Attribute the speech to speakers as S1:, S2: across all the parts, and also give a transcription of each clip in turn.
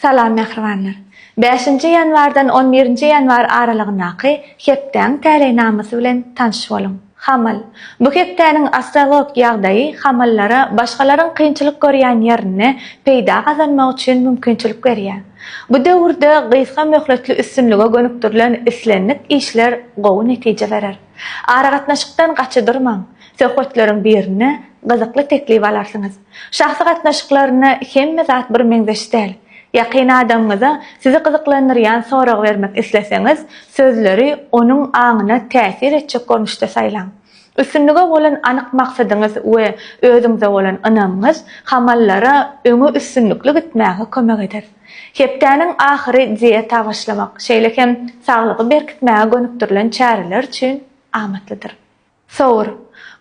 S1: Salam mähribanlar! Bäşinji ýanwardan on birinji ýanwar aralygyndaky hepdäň täleýnamasy bilen tanş boluň. Hamal. Bu hepdäniň astrolog ýagdaýy hamallara başgalaryň kynçylyk görýän ýerinde peýda gazanmak üçin mümkinçilik berýär. Bu döwürde gysga möhletli üstünlige gönükdirilen islendik işler gowy netije berer. Aragatnaşykdan gaça durmaň, söhbetleriň birinde gyzykly teklip alarsyňyz. Şahsy gatnaşyklarynda hemme zat birmeňzeş däl. Ýakyn adamyňyza sizi gyzyklandyrýan sorag bermek isleseňiz, sözleri onuň aňyna täsir etjek görnüşde saýlaň. Üstünlige bolan anyk maksadyňyz we özüňize bolan ynamyňyz hamallara öňe üstünlikli gitmäge kömek eder. Hepdäniň ahyry dieta başlamak, şeýle hem saglygy berkitmäge gönükdirilen çäreler üçin amatlydyr. Sowur.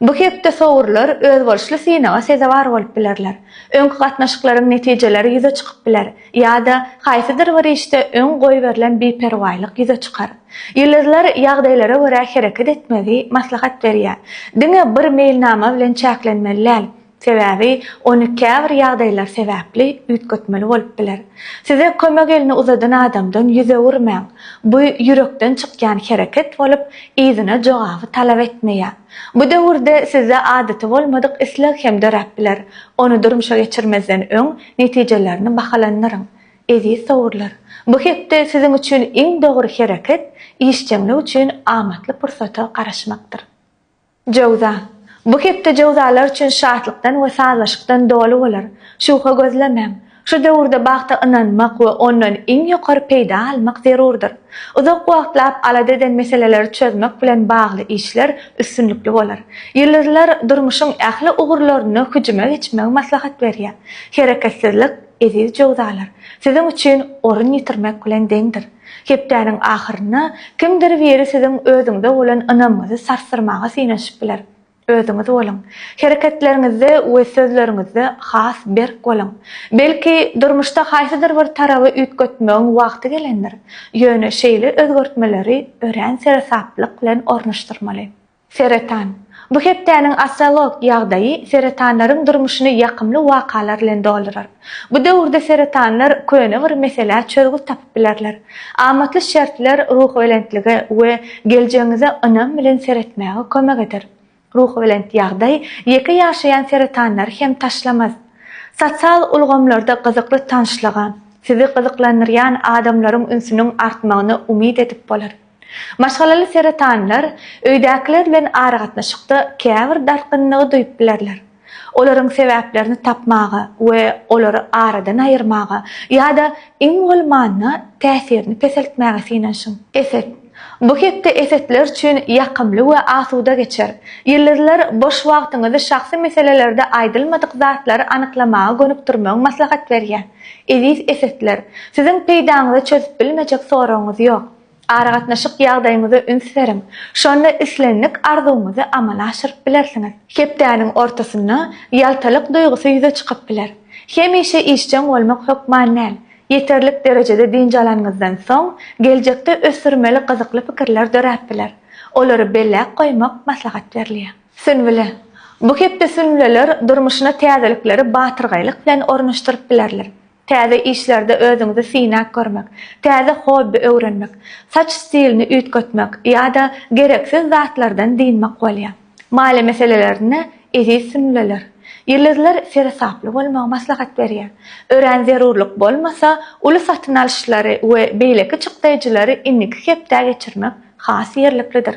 S1: Bu hepde sowurlar özboluşly synaga sezewar bolup bilerler. Öňki gatnaşyklaryň netijeleri ýüze çykyp biler ýa-da haýsydyr bir işde öň goýberilen biperwaýlyk ýüze çykar. Ýyldyzlar ýagdaýlara görä hereket etmegi maslahat berýär. Diňe bir meýilnama bilen çäklenmeli däl. Sebäbi ony käbir ýagdaýlar sebäpli üýtgetmeli bolup biler. Size kömek elini uzadan adamdan ýüz öwürmäň. Bu ýürekden çykýan hereket bolup, yzyna jogaby talap etmeýär. Bu döwürde sizde adaty bolmadyk isleg hem döräp biler. Ony durmuşa geçirmezden öň netijelerini bahalandyryň. Eziz sowurlar! Bu hepde siziň üçin iň dogry hereket işjeňlik üçin amatly pursata garaşmakdyr. Jöwza. Bu hepde jöwzalar üçin şatlykdan we sazlaşykdan doly bolar. Şuwha gözlemäň. Şu döwürde bagta ynanmak we ondan iň ýokary peýda almak zerurdyr. Uzak wagtlap alada eden meseleleri çözmek bilen bagly işler üstünlikli bolar. Ýyldyzlar durmuşyň ähli ugurlarynda hüjüme geçmegi maslahat berýär. Hereketsizlik. Eziz jöwzalar, siziň üçin orun ýitirmek bilen deňdir. Hepdäniň ahyrynda kimdir biri siziň özüňize bolan ynamyňyzy sarsdyrmaga synanyşyp biler. Özüňiz boluň. Hereketleriňizde we sözleriňizde has berk boluň. Belki, durmuşda haýsydyr bir taraba üýtgetmegiň wagty gelendir. Ýöne şeýle özgertmeleri örän seresaplyk bilen ornaşdyrmaly. Seretan. Bu hepdäniň astrolog ýagdaýy seretanlaryň durmuşyny ýakymly wakalar bilen doldurar. Bu döwürde seretanlar köne bir meselä çözgüt tapyp bilerler. Amatly şertler ruhubelentlige we geljegiňize ynam bilen seretmäge kömek eder. Ruhubelent ýagdaý ýeke ýaşaýan seretanlary hem taşlamaz. Sosial ulgamlarda gyzykly tanyşlyga, sizi gyzyklandyrýan adamlaryň ünsüniň artmagyna umyt edip bolar. Maşgalaly seretanlar öýdäkiler bilen aragatnaşykda käbir dartgynlygy duýup bilerler. Olaryň sebäplerini tapmaga we olary aradan aýyrmaga ýa-da iň bolmanda täsirini peseltmäge synanyşyň. Eset. Bu hepde esetler üçin ýakymly we asuda geçer. Ýyldyzlar boş wagtyňyzy şahsy meselelerde aýdylmadyk zatlary anyklamaga gönükdirmegi maslahat berýär. Eziz esetler, siziň peýdaňyza çözüp bilmejek soragyňyz ýok. Aragatnaşyk ýagdaýyňyza üns beriň, şonda islendik arzuwyňyzy amala aşyryp bilersiňiz. Hepdäniň ortasynda ýaltalyk duýgusy ýüze çykyp biler. Hemişe işjeň bolmak hökman däl. Ýeterlik derejede dynç alanyňyzdan soň, geljekde ösdürmeli gyzykly pikirler döräp biler. Olary belläp goýmak maslahat berilýär. Sünbüle. Bu hepde sünbüleler durmuşyna täzelikleri batyrgaýlyk bilen ornaşdyryp bilerler. Täze işlerde özüňizi synap görmek, täze hobbi öwrenmek, saç stilini üýtgetmek ýa-da gereksiz zatlardan dynmak bolýar. Maliýe meselelerinde eziz sünnüleler, ýyldyzlar seresaply bolmagy maslahat berýär. Örän zerurlyk bolmasa, uly satyn alyşlary we beýleki çykdaýjylary indiki hepdä geçirmek has ýerliklidir.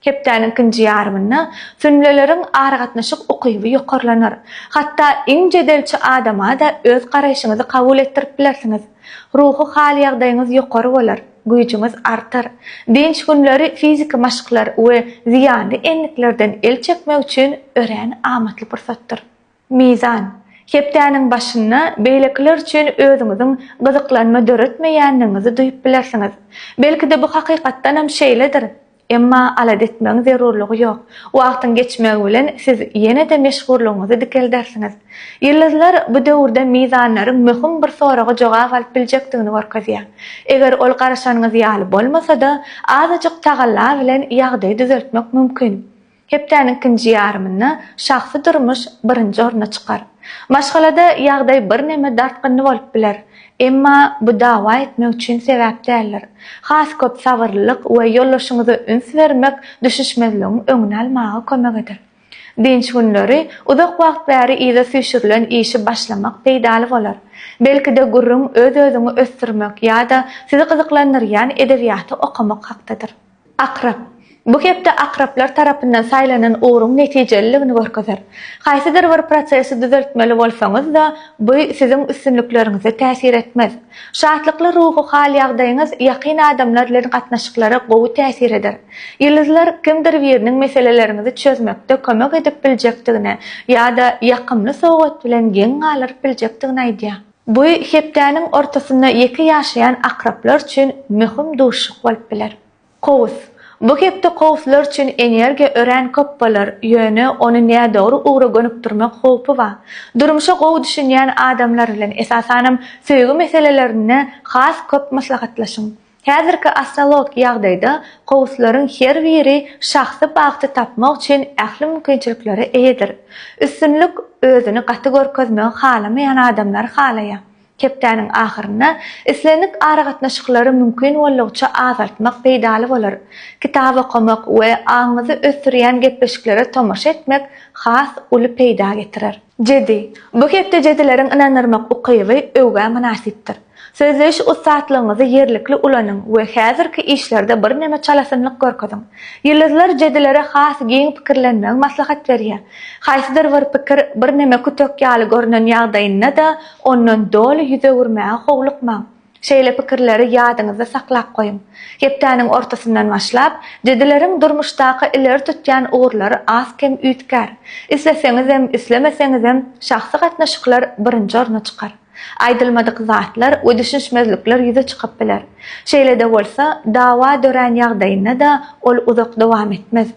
S1: Hepdäniň ikinji ýarymynda sünleleriň aragatnaşyk ukyby ýokarlanar. Hatda iň jedelçi adama-da öz garaýşyňyzy kabul etdirip bilersiňiz. Ruhy hal-ýagdaýyňyz ýokary bolar, güýjüňiz artar. Dynç günleri fiziki maşklar we zyýanly endiklerden el çekmek üçin örän amatly pursatdyr. Mizan. Hepdäniň başynda beýlekiler üçin özüňiziň gyzyklanma döretmeýändigiňizi duýup bilersiňiz. Belki-de bu hakykatdanam şeýledir. Emma alada etmegiň zerurlygy ýok. Wagtyň geçmegi bilen siz ýene-de meşhurlygyňyzy dikeldersiňiz. Ýyldyzlar bu döwürde mizanlaryň möhüm bir soraga jogap alyp biljekdigini görkezýär. Eger ol garaşanyňyz ýaly bolmasa-da, azajyk tagalla bilen ýagdaýy düzeltmek mümkin. Hepdäniň ikinji ýarymynda şahsy durmuş birinji orna çykar. Maşgalada ýagdaý birneme dartgynly bolup biler. Emma bu dawa etmek üçin sebäp däldir. Has köp sabyrlylyk we ýoldaşyňyza üns bermek düşüşmezligiň öňüni almaga kömek eder. Dynç günleri uzak wagt bäri yza süýşürilen işi başlamak peýdaly bolar. Belki-de gürrüň öz-özüňi ösdürmek ýa-da sizi gyzyklandyrýan edebiýaty okamak hakdadyr. Akrap. Bu hepde akraplar tarapyndan saýlanan ugruň netijeliligini görkezer. Haýsydyr bir prosesi düzeltmeli bolsaňyz-da, bu siziň üstünlikleriňize täsir etmez. Şatlykly ruhy hal-ýagdaýyňyz ýakyn adamlar bilen gatnaşyklara gowy täsir eder. Ýyldyzlar kimdir biriniň meseleleriňizi çözmekde kömek edip biljekdigini ýa-da ýakymly sowgat bilen geň galyryp biljekdigini aýdýar. Bu hepdäniň ortasynda ýeke ýaşaýan akraplar üçin möhüm duşuşyk bolup biler. Kowus. Bu hepde kowuslar üçin energiýa örän köp bolar, ýöne ony nädogry ugra gönükdirmek howpy bar. Durmuşa gowy düşünýän adamlar bilen, esasanam söýgi meselelerinde has köp maslahatlaşyň. Häzirki astrologik ýagdaýda gowuslaryň her biri şahsy bagty tapmak üçin ähli mümkinçiliklere eýedir. Üstünlik özüni gaty görkezmegi halamaýan adamlary halaýar. Hepdäniň ahyrynda islendik aragatnaşyklary mümkin boldugyça azaltmak peýdaly bolar. Kitap okamak we aňyňyzy ösdürýän gepleşiklere tomaşa etmek has uly peýda getirer. Jedi, bu hepde jedileriň ynandyrmak ukyby öwgä mynasypdyr. Sözleýiş ussatlygyňyzy ýerlikli ulanyň we häzirki işlerde birneme çalasynlyk görkeziň. Ýyldyzlar jedilere has giň pikirlenmegi maslahat berýär. Haýsydyr bir pikir birneme kütek ýaly görnen ýagdaýynda-da ondan doly ýüz öwürmäge howlukmaň. Şeýle pikirleri ýadyňyzda saklap goýuň. Hepdäniň ortasyndan başlap, jedileriň durmuşdaky ileri tutýan ugurlary az-kem üýtgär. Isleseňizem, islemeseňizem, şahsy gatnaşyklar birinji orna çykar. Aýdylmadyk zatlar we düşünişmezlikler ýüze çykyp biler. Şeýle-de bolsa, dawa dörän ýagdaýynda-da ol uzak dowam etmez.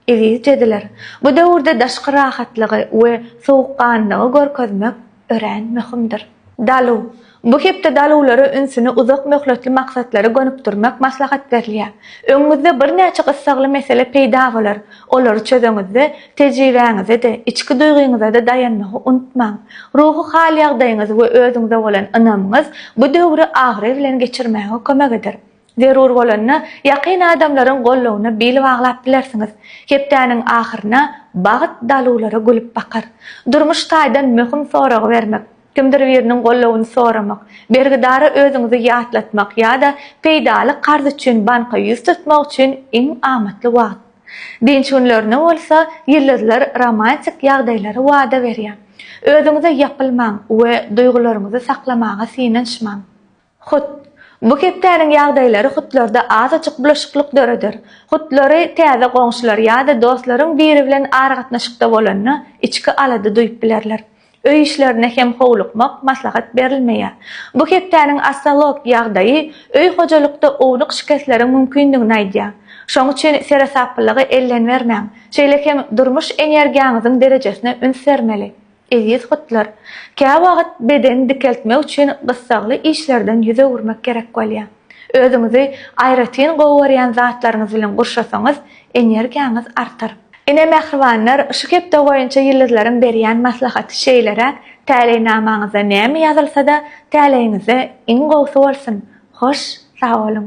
S1: Eziz jediler, bu döwürde daşky rahatlygy we sowukganlygy görkezmek örän möhümdir. Dalu. Bu hepde daluwlara ünsüni uzak möhletli maksatlara gönükdirmek maslahat berilýär. Öňüňizde birnäçe gyssagly mesele peýda bolar. Olary çözeňizde, tejribäňize-de, içki duýgyňyza-da daýanmagy unutmaň. Ruhy hal-ýagdaýyňyz we özüňize bolan ynamyňyz bu döwri abraý bilen geçirmäge kömek eder. Zerur bolanda, ýakyn adamlaryň gollugyna bil baglap bilersiňiz. Hepdäniň ahyryna bagt daluwlara gülüp bakar. Durmuş taýdan möhüm soragy bermek, kimdir biriniň gollugyny soramak, bergidara özüňizi ýatlatmak ýa-da peýdaly karz üçin banka ýüz tutmak üçin iň amatly wagt. Dynç günlerine bolsa, ýyldyzlar romantik ýagdaýlary wada berýär. Özüňize ýapylmaň we duýgularyňyzy saklamaga synanyşmaň. Hut. Bu hepdäniň ýagdaýlary hutlarda azajyk bulaşyklyk döreder. Hutlary täze goňşular ýa-da dostlaryň biri bilen aragatnaşykda bolanda içki alada duýup bilerler. Öý işlerine hem howlukmak maslahat berilmeýär. Bu hepdäniň astrolog ýagdaýy öý hojalykda ownuk şikesleriň mümkindigini aýdýar. Şoň üçin seresaplylyga ellenbermäň. Şeýle hem durmuş energiýaňyzyň derejesine üns bermeli. Eziz gytlar, käwagt bedeni dikeltmek üçin gyssagly işlerden ýüz öwürmek gerek bolýar. Özüňizi aýratyn gowy görýän zatlaryňyz bilen gurşasaňyz, energiýaňyz artar. Ine, mähribanlar, şu hepde boýunça ýyldyzlaryň berýän maslahaty şeýleräk, Täleýnamaňyzda näme ýazylsa-da, täleýiňizde iň gowusy bolsun! Hoş, sag boluň!